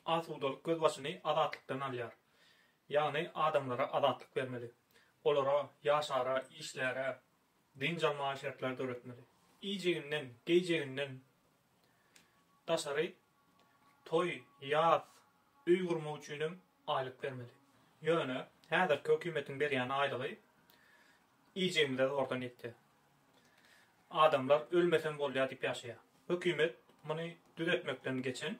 Asudalyk gözbaşyny azatlykdan alýar. Ýagny adamlara azatlyk bermeli. Olara ýaşara, işläre, dynç almaga şertler döretmeli. Iýjeginden, geýjeginden daşary toý, ýas, öý gurmak üçinem aýlyk bermeli. Ýöne häzirki hökümetiň berýän aýlygy iýjegimize zordan ýetýär. Adamlar ölmesem bolýar diýip ýaşaýar. Hökümet muny düzetmekden geçen,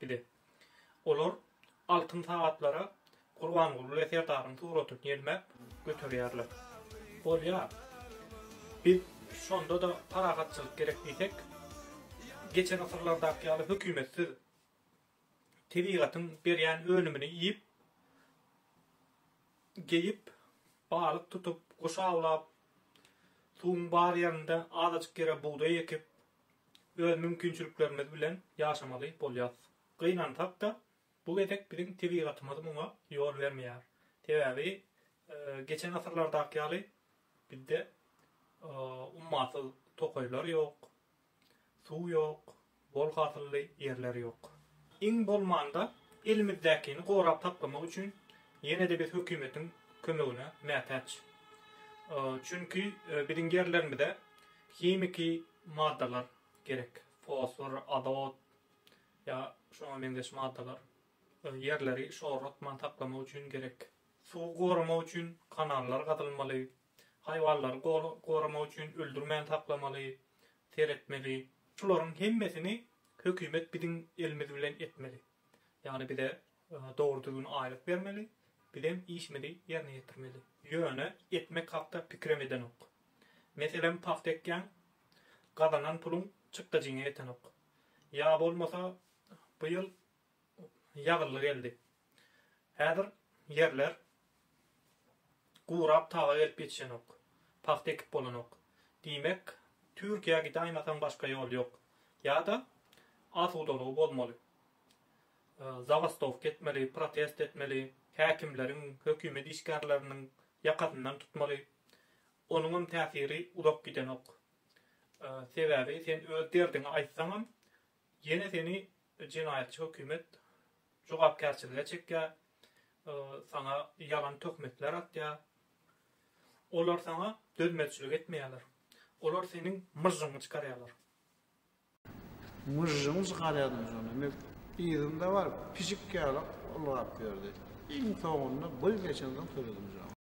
Bile. Olar altyn sagatlara Gurbanguly we Serdaryň suratyny ýelmäp göterýärler. Bolýar. Biz şonda-da parahatçylyk gerek diýsek, geçen asyrlardaky ýaly hökümetsiz, tebigatyň berýän önümini iýip, geýip, balyk tutup, guş awlap, suwuň bar ýerinde azajyk ýere bugdaý ekip, öz mümkinçiliklerimiz bilen ýaşamaly bolýarys. Gynansak-da, bu gezek biziň tebigatymyz muňa ýol bermeýär. Sebäbi geçen asyrlardaky ýaly bizde ummasyz tokaýlar ýok, suw ýok, bol hasylly ýerler ýok. Iň bolmanda elimizdäkini gorap saklamak üçin ýene-de biz hökümetiň kömegine mätäç. Çünki biziň ýerlerimize Himiki maddalar gerek, fosfor, azot ýa şoňa meňzeş maddalar we ýerleri şorlatman saklamak üçin gerek. Suwy goramak üçin kanallar gazylmaly, haýwanlary goramak üçin öldürmän saklamaly, seretmeli. Şularyň hemmesini hökümet biziň elimiz bilen etmeli. Ýagny bize Dogry düzgün aýlyk bermeli, bizem işimizi ýerine ýetirmeli. Ýöne ekmek hakda pikirem edenok. Meselem pagta ekýäň, gazanan puluň çykdajyňa ýetenok. Ýa bolmasa bu ýyl ýagylly geldi. Häzir ýerler gurap taga gelip ýetişenok. Pagta ekip bolanok. Diýmek, Türkiýä gidaýmasaň başga ýol ýok. Ýa-da asudalygy bozmaly. zabastowka etmeli, protest etmeli, häkimleriň, hökümet işgärleriniň ýakasyndan tutmaly. Onuňam täsiri uzak gidenok. Sebäbi sen öz derdiňi aýtsaňam, ýene seni jenaýatçy hökümet jogapkärçilige çekýär, saňa ýalan töhmetler atýar. Olar saňa dözmezçilik etmeýärler. Olar seniň myžžyňy çykarýarlar. Myžžymyž galýadymyz onda. Indi yzynda baryp, pişik ýaly ylgap ýördi. Iň soňunda bir geçen soň töredimyz ony.